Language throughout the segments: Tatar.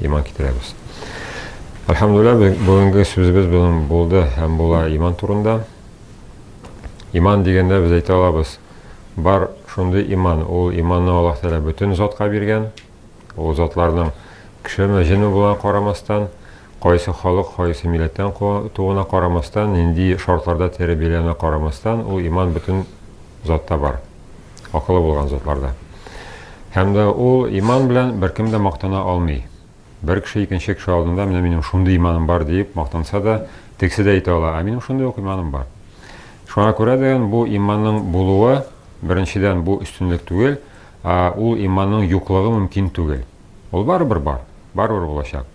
иман китерәбез. Әлхәмдулилла, бүгенге сүзебез белән булды һәм була иман турында. Иман дигәндә без әйтә алабыз, бар шундый иман, ул иманны Аллаһ Тәгалә бөтен затка биргән. Ул затларның кешеме, җене була карамастан, кайсы халык, кайсы милләттән туына карамастан, нинди шартларда тәрбияләнә карамастан, ул иман бөтен затта бар. акылы булган затлар да. Һәм дә ул иман белән беркем дә мактана алмый. Бер кеше икенче кеше алдында менә минем шундый иманым бар диеп мактанса да, тегесе дә әйтә ала, ә минем шундый ук иманым бар. Шуңа күрә дигән бу иманның булуы беренчедән бу өстенлек түгел, ә ул иманның юклыгы мөмкин түгел. Ул барыбер бар, барыбер булачак.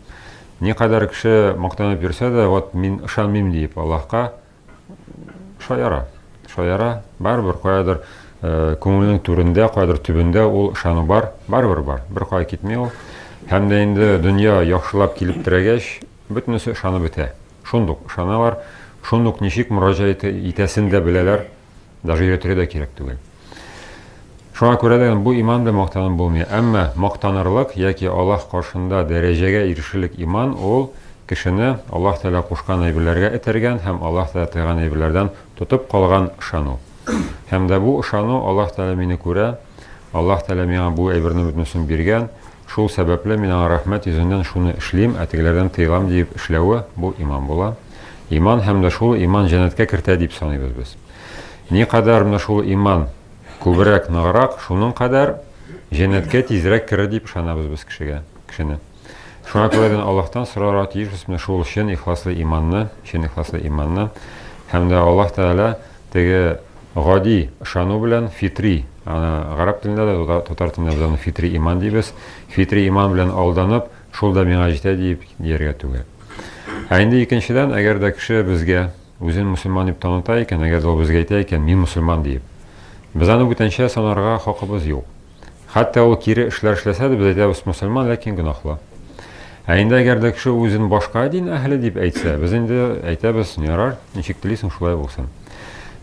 Никадәр кеше мактанып йөрсә дә, вот мин ышанмыйм диеп Аллаһка, Шаяра. Шаяра. Барыбер каядыр э, күңелнең түрендә, каядыр төбендә ул ышану бар. Барыбер бар. Бер кая китми ул. Һәм дә инде дөнья яхшылап килеп терәгәч, бөтенесе ышанып бетә. Шундук ышаналар, шундук ничек мөрәҗәгать итәсен дә беләләр. Даже өйрәтергә дә кирәк түгел. Шуңа күрә дә бу иман белән мактану булмый. Әмма мактанырлык яки Аллаһ каршында дәрәҗәгә ирешерлек иман ул кешене Аллаһ Тәгалә кушкан әйберләргә этәргән һәм Аллаһ Тәгалә тыйган әйберләрдән тотып калган ышану. Һәм дә бу ышану Аллаһ Тәгалә мине күрә, Аллаһ Тәгалә миңа бу әйберне бөтенесен биргән, шул сәбәпле мин аңа рәхмәт йөзеннән шуны эшлим, ә тегеләрдән тыелам диеп эшләве бу иман була. Иман һәм дә шул иман җәннәткә кертә дип саныйбыз без. Никадәр менә шул иман күбрәк, ныграк, шуның кадәр җәннәткә тизрәк керер дип ышанабыз без кешегә, кешене. Шуңа күрә дә Аллаһтан сорарга тиешбез менә шул чын ихласлы иманны, чын ихласлы иманны. Һәм дә Аллаһ Тәгалә теге гади ышану белән фитри, аны гарәп телендә дә, татар телендә дә фитри иман дибез. Фитри иман белән алданып, Шул да миңа җитә диеп дияргә түгел. Ә инде икенчедән, әгәр дә кеше безгә үзен мөселман дип таныта икән, әгәр дә ул безгә әйтә икән, мин мөселман диеп, без аны бүтәнчә санарга хакыбыз юк. Хәтта ул кире эшләр эшләсә дә, без әйтәбез, мөселман, ләкин гөнаһлы. Ә инде әгәр дә кеше үзен башка дин әһеле дип әйтсә, без инде әйтәбез, ярар, ничек телисең, шулай булсын.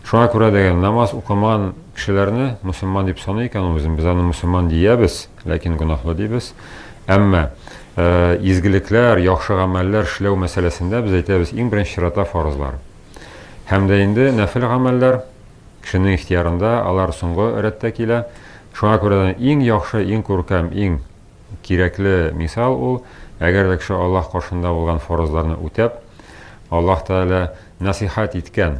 Шуңа күрә дә намаз укымаган кешеләрне мөселман дип саный икән ул үзен, без аны мөселман диябез. Ләкин гөнаһлы дибез. Әмма изгелекләр, яхшы гамәлләр эшләү мәсьәләсендә без әйтәбез, иң беренче чиратта фарызлар. Һәм дә инде нәфил гамәлләр кешенең ихтиярында, алар соңгы рәттә килә. Шуңа күрә дә иң яхшы, иң күркәм, иң кирәкле мисал ул, әгәр дә кеше Аллаһ каршында булган фарызларны үтәп, Аллаһ Тәгалә насихат иткән,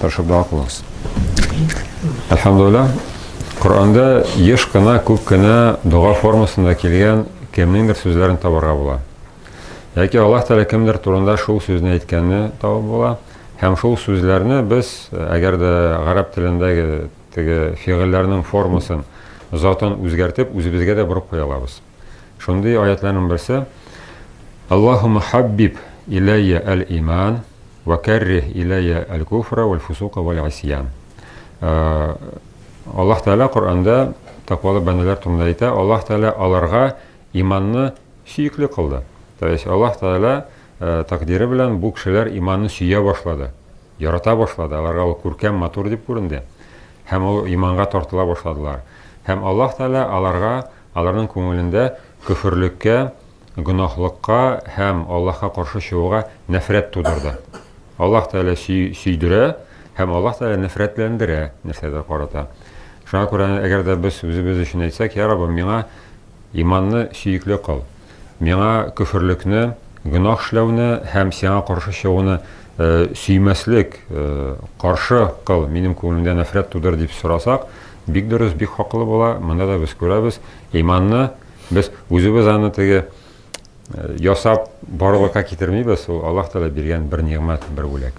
Хорошо, дога кылыгыз. Әлхәмдулилла, Коранда еш кына, күп кенә дога формасында килгән кемнеңдер сүзләрен табарга була. Яки Аллаһ Тәгалә кемдер турында шул сүзне әйткәнне табып була. Һәм шул сүзләрне без, әгәр дә гарәп телендәге теге фигыльләрнең формасын, затын үзгәртеп, үзебезгә дә борып куя алабыз. Шундый аятларның берсе Аллаһумма хаббиб иләйя әл-иман ва каррих иләйя әл-куфра вәл-фусука вәл-исьян. Э, Аллаһ Тәгалә Коръәндә тәкъвалы бәндәләр турында әйтә, Аллаһ Тәгалә аларга иманны сөекле кылды. То есть Аллаһ Тәгалә э, тәкъдире белән бу кешеләр иманны сөя башлады, ярата башлады, аларга ул күркәм, матур дип күренде. Һәм ул иманга тартыла башладылар. Һәм Аллаһ Тәгалә аларга Аларның күңелендә көферлеккә, гөнаһлыкка һәм Аллаһка каршы чыгуга нәфрәт тудырды. Аллаһ Тәгалә сөйдерә һәм Аллаһ Тәгалә нәфрәтләндерә нәрсәгә карата. Шуңа күрә әгәр дә без үзебез өчен әйтсәк, я Раббым, миңа иманны сөекле кыл. Миңа көферлекне, гөнаһ эшләүне һәм Сиңа каршы чыгуны сөймәслек, каршы кыл, минем күңелемдә нәфрәт тудыр, дип сорасак, бик дөрес, бик хаклы була. Монда да без күрәбез, иманны без үзебез аны теге ясап барлыкка китермибез, ул Аллаһ Тәгалә биргән бер нигъмәт, бер бүләк.